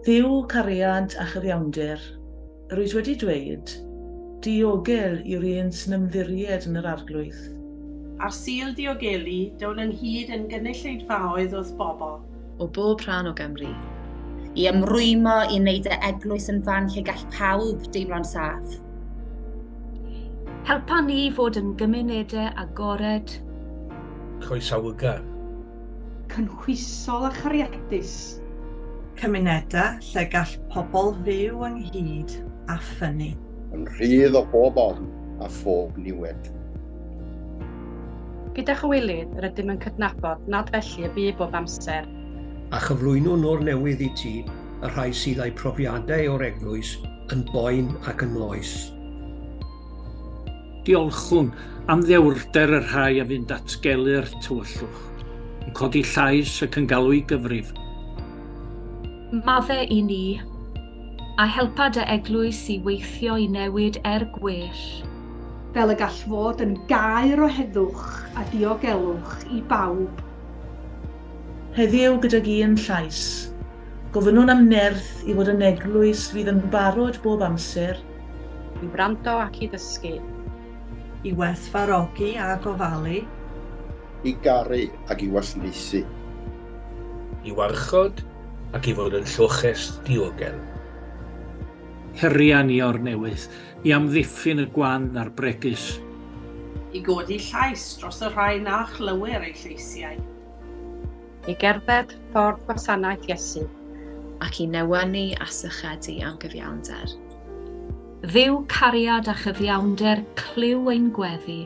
Dduw cariad a chyfiawnder, yr wyt wedi dweud, Diogel yw'r un sy'n ymddiried yn yr Arglwydd. Ar Sul Diogelu, dawn ynghyd yn gynulleidfaoedd wrth bobl, o bob rhan o Gymru. I ymrwymo i wneud y eglwys yn fan lle gall pawb deimlo'n saff. Helpa ni fod yn gymunedau agored. Croesawgar. Cynhwysol a chariadus. Cymunedau lle gall pobl fyw ynghyd a ffynnu. Yn rhydd o bob ofn a phob niwed. Gyda chywilydd, rydym yn cydnabod nad felly y bu bob amser. A chyflwyno nôr newydd i ti y rhai sydd â'u profiadau o'r eglwys yn boen ac yn loes. Diolchwn am ddewrder y rhai a fu'n datgelu'r tywyllwch, yn codi llais ac yn galw i gyfrif. Madde i ni. A helpa dy eglwys i weithio i newid er gwell. Fel y gall fod yn gaer o heddwch a diogelwch i bawb. Heddiw gydag un llais. Gofynnwn am nerth i fod yn eglwys fydd yn barod bob amser. I wrando ac i ddysgu. I werthfawrogi a gofalu. I garu ac i wasanaethu. I warchod ac i fod yn lloches diogel. Heriau ni o'r newydd, i amddiffyn y gwan a'r bregus. I godi llais dros y rhai na chlywir eu lleisiau. I gerdded ffordd gwasanaeth Iesu ac i newynu a sychedu anghyfiawnder. Dduw cariad a chyfiawnder clyw ein gweddi.